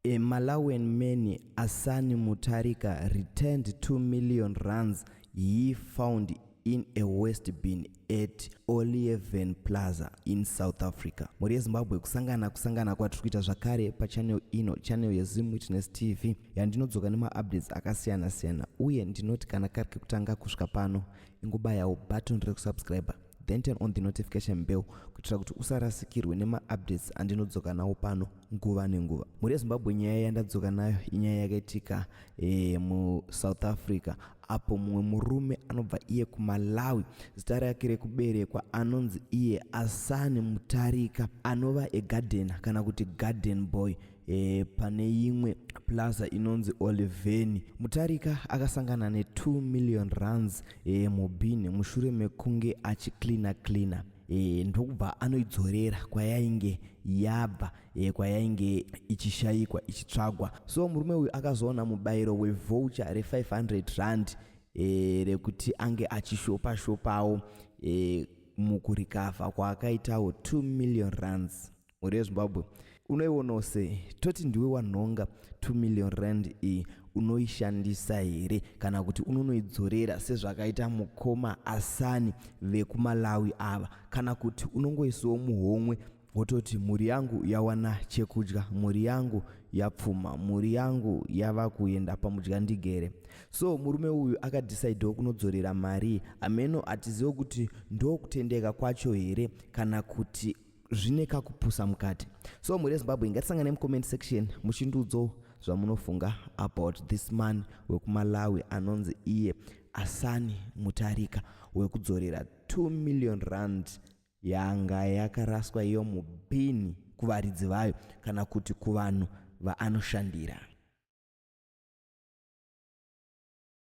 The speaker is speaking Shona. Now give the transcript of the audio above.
A Malawian man, Asani Mutharika, returned two million rands he found in a waste bin at Olieven Plaza in South Africa. Mhuri yeZimbabwe kusangana kusangana kwatiri kuita zvakare pachannel ino, channel yeZim Witness TV yandinodzoka nemaupdates akasiyana siyana uye ndinoti kana kari kekutanga kusvika pano ingobayawo button rekusubscriber then turn on the notification bell kuitira kuti usarasikirwe nemaupdates andinodzoka nawo pano nguva nenguva mhuri yezimbabwe nyaya yandadzoka nayo inyaya yakaitika e, musouth africa apo mumwe murume anobva iye kumalawi zita rake rekuberekwa anonzi iye asani mutarika anova egadhena kana kuti garden boy e, pane imwe plaza inonzi oliveni mutarika akasangana ne2 million runs e, eh, mubhini mushure mekunge achicleana cleana e, ndokubva anoidzorera kwayainge yabva e, kwayainge ichishayikwa ichitsvagwa so murume uyu akazoona mubayiro wevoucher re500 rand e, rekuti ange achishopa shopawo e, mukurikavha kwaakaitawo 2 million runs mhuri yezimbabwe unoionawo sei toti ndiwe wanhonga 2 million rand iyi unoishandisa here kana kuti unonoidzorera sezvakaita mukoma asani vekumalawi ava kana kuti unongoisiwo muhomwe wototi mhuri yangu yawana chekudya mhuri yangu yapfuma mhuri yangu yava kuenda pamudya ndigere so murume uyu akadhisaidhiwo kunodzorera mari hameno hatizivo kuti ndokutendeka kwacho here kana kuti zvine kakupusa mukati so mhuri yezimbabwe ngatisangane mucomment section muchindiudzawo zvamunofunga about this man wekumalawi anonzi iye asani mutarika wekudzorera 2 million rand yanga yakaraswa iyo mubhini kuvaridzi vayo kana kuti kuvanhu vaanoshandira